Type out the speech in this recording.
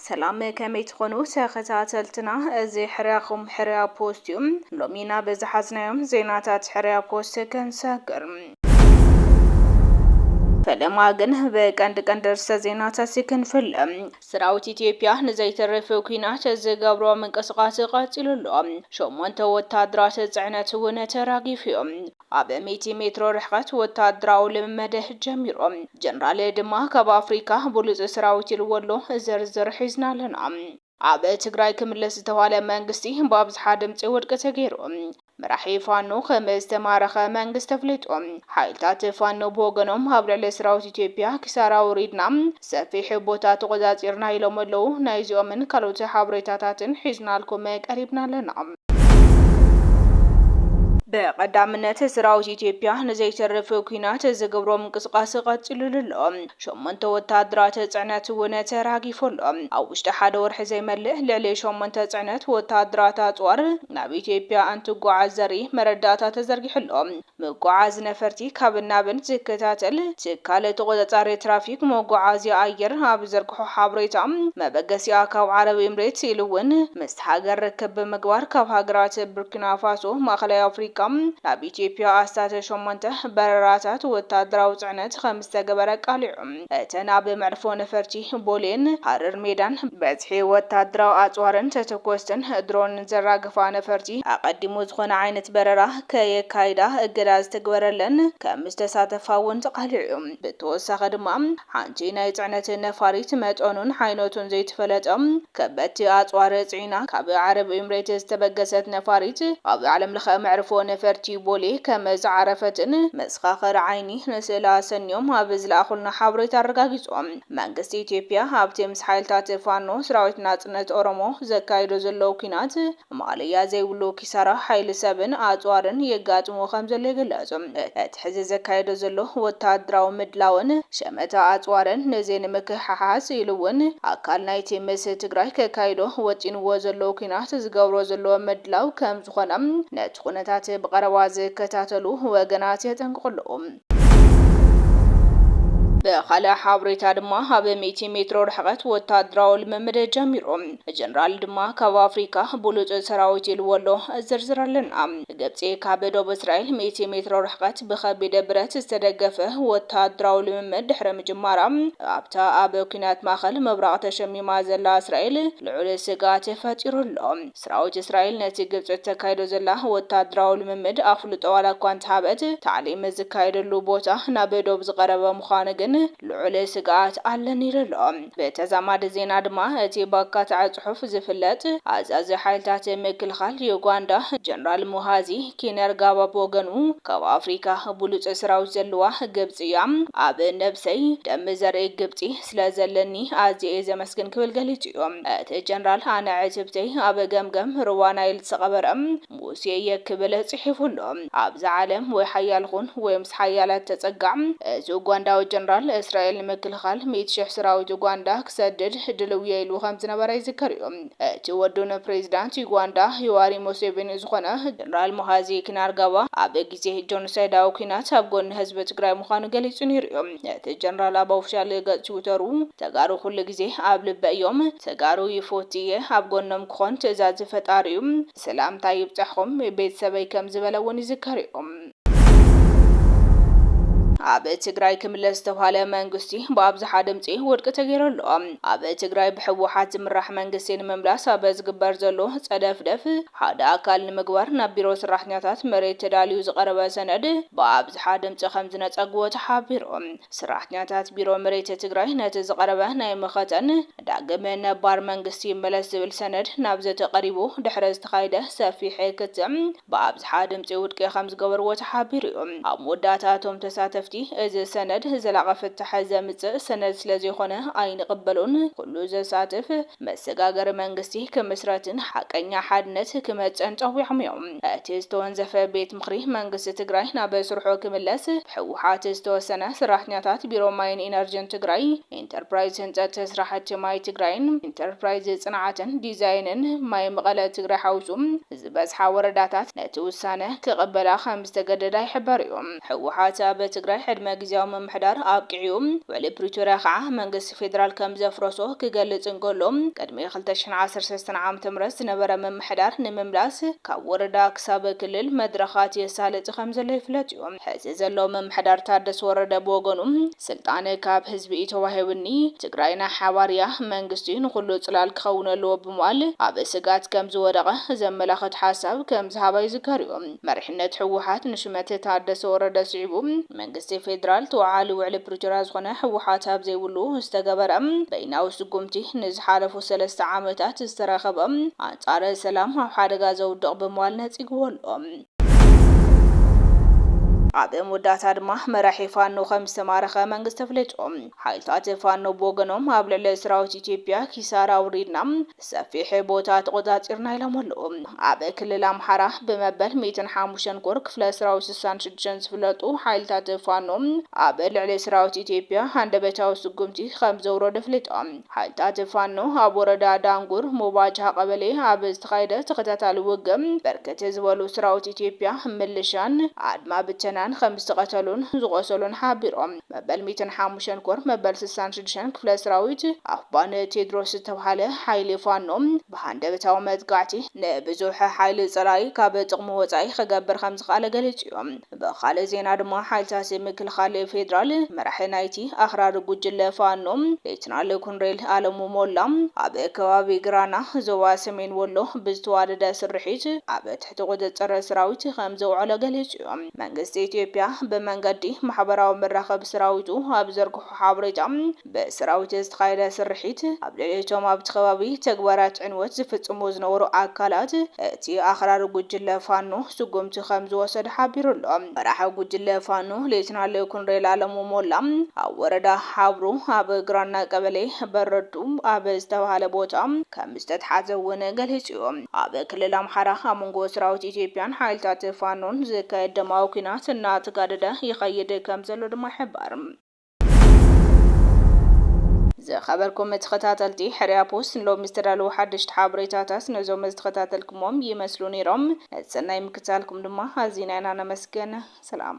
ሰላም ከመይ ትኾኑ ተኸታተልትና፣ እዚ ሕርያኹም ሕርያ ፖስት እዩ። ሎሚ ናብ ዝሓዝናዮም ዜናታት ሕርያ ፖስት ክንሰግር ፈለማ ግን ብቀንዲ ቀንዲ ርእሰ ዜናታት ክንፍለ ስራዊት ኢትዮጵያ ንዘይተርፍ ኲናት ዝገብሮ ምንቅስቓስ ቐፂሉ ኣሎ። ሸሞንተ ወታደራት ፅዕነት እውን ተራጊፉ ዩ። ኣብ ሚእቲ ሜትሮ ርሕቐት ወታደራዊ ልምምድ ጀሚሩ። ጀነራል ድማ ካብ ኣፍሪካ ብሉፅ ስራዊት ኢልዎ ኣሎ። ዝርዝር ሒዝና ኣለና። ኣብ ትግራይ ክምለስ ዝተብሃለ መንግስቲ ብኣብዝሓ ድምፂ ውድቂ ተገይሩ። መራሒ ፋኖ ከምዝተማረኸ መንግስቲ ኣፍሊጡ። ሓይልታት ፋኖ ብወገኖም ኣብ ልዕሊ ሰራዊት ኢትዮጵያ ኪሳራ ኣውሪድና ሰፊሕ ቦታ ተቖፃፂርና ኢሎም ኣለው። ናይዚኦምን ካልኦት ሓበሬታታትን ሒዝናልኩም ቀሪብና ኣለና። ብቐዳምነት ሰራዊት ኢትዮጵያ ንዘይተርፍ ኲናት ዝገብሮ ምንቅስቓስ ቐፂሉሉ ኣሎ። ሸሞንተ ወተሃደራት ጽዕነት እውን ተራጊፉ ኣሎ። ኣብ ውሽጢ ሓደ ወርሒ ዘይመልእ ልዕሊ ሸሞንተ ጽዕነት ወተሃደራት ኣጽዋር ናብ ኢትዮጵያ እንትጓዓዝ ዘርኢ መረዳእታ ተዘርጊሑ ኣሎ። ምጉዓዝ ነፈርቲ ካብን ናብን ዝከታተል ትካል ተቖጻጻሪ ትራፊክ መጓዓዝያ ኣየር ኣብ ዝዘርግሖ ሓበሬታ፣ መበገሲኣ ካብ ዓረብ ኤምሬት ኢሉ እውን ምስታ ሃገር ርክብ ብምግባር ካብ ሃገራት ቡርኪናፋሶ፣ ማእከላይ ኣፍሪቃ፣ ናብ ኢትዮጵያ ኣስታት ሸሞንተ በረራታት ወተሃደራዊ ጽዕነት ከም ዝተገበረ ቃል'ዩ። እተን ኣብ መዕርፎ ነፈርቲ ቦሌን ሃረር ሜዳን በዝሒ ወተሃደራዊ ኣጽዋርን ተተኮስትን ድሮንን ዘራግፋ ነፈርቲ ኣቐዲሙ ዝኾነ ዓይነት በረራ ከየካይዳ እገዳ ዝተግበረለን ከም ዝተሳተፋ'ውን ተቓሊዑ'ዩ። ብተወሳኺ ድማ ሓንቲ ናይ ጽዕነት ነፋሪት መጠኑን ዓይነቱን ዘይተፈለጠ ከበድቲ ኣጽዋር ጽዒና ካብ ዓረብ ኤምሬት ዝተበገሰት ነፋሪት ኣብ ዓለምለኸ መዕርፎ ነፈርቲ ቦሌ ከም ዝዓረፈትን መሰኻኽር ዓይኒ ንስእሊ ኣሰንዮም ኣብ ዝለኣኹልና ሓበሬታ ኣረጋጊጾም። መንግስቲ ኢትዮጵያ ኣብቲ ምስ ሓይልታት ፋኖ፣ ሰራዊት ናጽነት ኦሮሞ፣ ዘካይዶ ዘሎ ኲናት፣ ማእለያ ዘይብሉ ኪሳራ ሓይሊ ሰብን ኣጽዋርን የጋጥሞ ከምዘሎ ይግለጽ። እቲ ሕዚ ዘካይዶ ዘሎ ወተሃደራዊ ምድላውን ሸመታ ኣጽዋርን ነዚ ንምክሕሓስ ኢሉ እውን ኣካል ናይቲ ምስ ትግራይ ከካይዶ ወጢንዎ ዘሎ ኲናት ዝገብሮ ዘሎ ምድላው ከምዝኾነ ነቲ ኩነታት ብቐረባ ዝከታተሉ ወገናት የጠንቅቑ ኣለዉ። ብኻልእ ሓብሬታ ድማ ኣብ ሚእቲ ሜትሮ ርሕቐት ወታደራዊ ልምምድ ጀሚሩ ጀነራል ድማ ካብ ኣፍሪካ ብሉፅ ሰራዊት ኢልዎ ኣሎ ዝርዝር ኣለና። ግብፂ ካብ ዶብ እስራኤል ሚእቲ ሜትሮ ርሕቐት ብኸቢድ ብረት ዝተደገፈ ወታደራዊ ልምምድ ድሕሪ ምጅማራ ኣብታ ኣብ ኲናት ማእኸል ምብራቕ ተሸሚማ ዘላ እስራኤል ልዑል ስግኣት ፈጢሩ ኣሎ። ስራዊት እስራኤል ነቲ ግብጺ እተካይዶ ዘላ ወተሃደራዊ ልምምድ ኣፍልጦ ዋላ እኳ እንተሃበት፣ ታዕሊም ዝካየደሉ ቦታ ናብ ዶብ ዝቐረበ ምዃኑ ግን ልዑል ስግኣት ኣለኒ ኢሉ ኣሎ። ብተዛማዲ ዜና ድማ እቲ ብኣካታዒ ጽሑፍ ዝፍለጥ ኣዛዚ ሓይልታት ምክልኻል ዩጋንዳ ጀነራል ሙሃዚ ኪነርጋባ ብወገኑ ካብ ኣፍሪካ ብሉጽ ስራዊት ዘለዋ ግብጺ እያ፣ ኣብ ነብሰይ ደም ዘርኢ ግብጺ፣ ስለ ዘለኒ ኣዝየ'የ ዘመስግን ክብል ገሊጹ'ዩ። እቲ ጀነራል ኣነ ዕትብተይ ኣብ ገምገም ሩባ ናይል ዝተቐበረ ሙሴ'የ ክብል ጽሒፉ ኣሎ። ኣብዛ ዓለም ወይ ሓያል ኹን ወይ ምስ ሓያላት ተጸጋዕ። እዚ ኡጓንዳዊ ጀነራል፣ እስራኤል ንምክልኻል ሚእቲ ሽሕ ስራዊት ኡጓንዳ ክሰድድ ድልው'የ ኢሉ ከም ዝነበረ ይዝከር'ዩ። እቲ ወዱ ንፕሬዚዳንት ዩጓንዳ ዩዋሪ ሙሴቪኒ ዝኾነ ጀነራል ሙሃዚ ኪናርጋባ ኣብ ግዜ ጆኖሳይዳዊ ኲናት ኣብ ጎኒ ህዝቢ ትግራይ ምዃኑ ገሊጹ ነይሩ'ዩ። እቲ ጀነራል ኣብ ኦፍሻል ገፅ ቲዊተሩ ተጋሩ ኩሉ ግዜ ኣብ ልበይ እዮም፣ ተጋሩ ይፎቲ እየ፣ ኣብ ጎኖም ክኾን ትእዛዝ ፈጣሪ እዩ፣ ሰላምታይ ይብፃሕኹም ቤተሰበይ ከምዝበለ እውን ይዝከር እዩ። ኣብ ትግራይ ክምለስ ዝተብሃለ መንግስቲ ብኣብዝሓ ድምፂ ውድቂ ተገይሩ ኣሎ። ኣብ ትግራይ ብህወሓት ዝምራሕ መንግስቲ ንምምላስ ኣብ ዝግበር ዘሎ ፀደፍደፍ ሓደ ኣካል ንምግባር ናብ ቢሮ ስራሕተኛታት መሬት ተዳልዩ ዝቐረበ ሰነድ ብኣብዝሓ ድምፂ ከምዝነፀግዎ ተሓቢሩ። ስራሕተኛታት ቢሮ መሬት ትግራይ ነቲ ዝቐረበ ናይ መኸተን ዳግም ነባር መንግስቲ ይመለስ ዝብል ሰነድ ናብ ዘተ ቀሪቡ ድሕሪ ዝተኻየደ ሰፊሕ ክትዕ ብኣብዝሓ ድምፂ ውድቂ ከምዝገበርዎ ተሓቢሩ ዩ። ኣብ መወዳእታ እቶም ተሳተፍቲ እዚ ሰነድ ዘላቒ ፍታሕ ዘምፅእ ሰነድ ስለዘይኾነ ኣይንቕበሎን፣ ኩሉ ዘሳትፍ፣ መሰጋገሪ መንግስቲ ክምስረትን ሓቀኛ ሓድነት ክመፅእን ፀዊዖም እዮም። እቲ ዝተወንዘፈ ቤት ምኽሪ መንግስቲ ትግራይ ናብ ስርሑ ክምለስ ብህወሓት ዝተወሰነ ሰራሕተኛታት ቢሮ ማይን ኢነርጅን ትግራይ፣ ኢንተርፕራይዝ ህንፀት ስራሕቲ ማይ ትግራይን ኢንተርፕራይዝ ፅንዓትን ዲዛይንን ማይ መቐለ ትግራይ ሓዊሱ ዝበዝሓ ወረዳታት ነቲ ውሳነ ክቕበላ ከምዝተገደዳ ይሕበር እዩ። ህወሓት ኣብ ትግራይ ዕድመ ግዝያዊ ምምሕዳር ኣብቂዑ እዩ። ውዕሊ ፕሪቶርያ ከዓ መንግስቲ እቲ ፌደራል ከም ዘፍረሶ ክገልጽ እንከሎ፣ ቅድሚ ክልተ ሽሕን ዓሰርተ ሰለስተን ዓመተ ምህረት ዝነበረ ምምሕዳር ንምምላስ ካብ ወረዳ ክሳብ ክልል መድረኻት የሳልጥ ከም ዘሎ ይፍለጥ እዩ። ሕዚ ዘሎ ምምሕዳር ታደሰ ወረደ ብወገኑ፣ ስልጣን ካብ ህዝቢ እዩ ተዋሂቡኒ፣ ትግራይ ናይ ሓባር እያ፣ መንግስቲ ንኹሉ ጽላል ክኸውን ኣለዎ ብምባል ኣብ ስግኣት ከም ዝወደቐ ዘመላኽት ሓሳብ ከም ዝሃባ ይዝከር እዩ። መሪሕነት ህወሓት ንሹመት ታደሰ ወረደ ስዒቡ መንግስቲ ፌዴራል ተወዓሊ ውዕሊ ፕሪቶርያ ዝኾነ ህወሓት ኣብ ዘይብሉ ዝተገበረ በይናዊ ስጉምቲ ንዝሓለፉ ሰለስተ ዓመታት ዝተረኸበ ኣንፃር ሰላም ኣብ ሓደጋ ዘውድቕ ብምባል ነፂግዎ ኣሎ። ኣብ መወዳእታ ድማ መራሒ ፋኖ ከምዝተማረኸ መንግስቲ ኣፍሊጡ። ሓይልታት ፋኖ ብወገኖም ኣብ ልዕሊ ሰራዊት ኢትዮጵያ ኪሳራ ኣውሪድና ሰፊሕ ቦታ ተቖጻጺርና ኢሎም ኣለዉ። ኣብ ክልል ኣምሓራ ብመበል ሚእትን ሓሙሽተን ኮር ክፍለ ሰራዊት ስሳን ሽዱሽተን ዝፍለጡ ሓይልታት ፋኖ ኣብ ልዕሊ ሰራዊት ኢትዮጵያ ሃንደበታዊ ስጉምቲ ከምዘውረዱ ኣፍሊጦም። ሓይልታት ፋኖ ኣብ ወረዳ ዳንጉር ሙባጅሃ ቀበሌ ኣብ ዝተኻየደ ተኸታታሊ ውግእ ብርክት ዝበሉ ሰራዊት ኢትዮጵያ፣ ምልሻን ኣድማ ብተናን ከምዝተቐተሉን ዝቖሰሉን ሓቢሮም። መበል ሚእትን ሓሙሽተን ኮር መበል ስሳን ሽዱሽተን ክፍለ ስራዊት ኣፍባ ን ቴድሮስ ዝተብሃለ ሓይሊ ፋኖ ብሃንደበታዊ መጥቃዕቲ ንብዙሕ ሓይሊ ፀላኢ ካብ ጥቕሙ ወፃኢ ክገብር ከምዝኸኣለ ገሊፁ ዩ። ብኻሊእ ዜና ድማ ሓይልታት ምክልኻል ፌድራል መራሒ ናይቲ ኣኽራሪ ጉጅለ ፋኖ ሌትናል ኮንሬል ኣለሙ ሞላ ኣብ ከባቢ ግራና ዞባ ሰሜን ወሎ ብዝተዋደደ ስርሒት ኣብ ትሕቲ ቁፅፅር ስራዊት ከምዘውዐሎ ገሊፁ ዩ። መንግስቲ ኢትዮጵያ ብመንገዲ ማሕበራዊ መራኸቢ ስራዊቱ ኣብ ዘርግሖ ሓበሬታ ብስራዊት ዝተኻየደ ስርሒት ኣብ ልዕሊ እቶም ኣብቲ ከባቢ ተግባራት ዕንወት ዝፍፅሙ ዝነበሩ ኣካላት እቲ ኣኽራሪ ጉጅለ ፋኖ ስጉምቲ ከምዝወሰደ ሓቢሩ ኣሎ። መራሒ ጉጅለ ፋኖ ሌተናል ኮሎኔል ኣለሙ ሞላ ኣብ ወረዳ ሓብሩ ኣብ ግራና ቀበሌ በረዱ ኣብ ዝተብሃለ ቦታ ከም ዝተትሓዘ እውን ገሊፁ'ዩ። ኣብ ክልል ኣምሓራ ኣብ መንጎ ሰራዊት ኢትዮጵያን ሓይልታት ፋኖን ዝካየድ ደማዊ ኲናት እናተጋደደ ይኸይድ ከምዘሎ ድማ ይሕበር። ዝኸበርኩም ተኸታተልቲ ሕርያ ፖስት ንሎሚ ዝተዳለዉ ሓደሽቲ ሓበሬታታት ነዞም ዝተኸታተልኩሞም ይመስሉ ነይሮም። ነቲ ሰናይ ምክትታልኩም ድማ ኣዚና ኢና ነመስግን። ሰላም።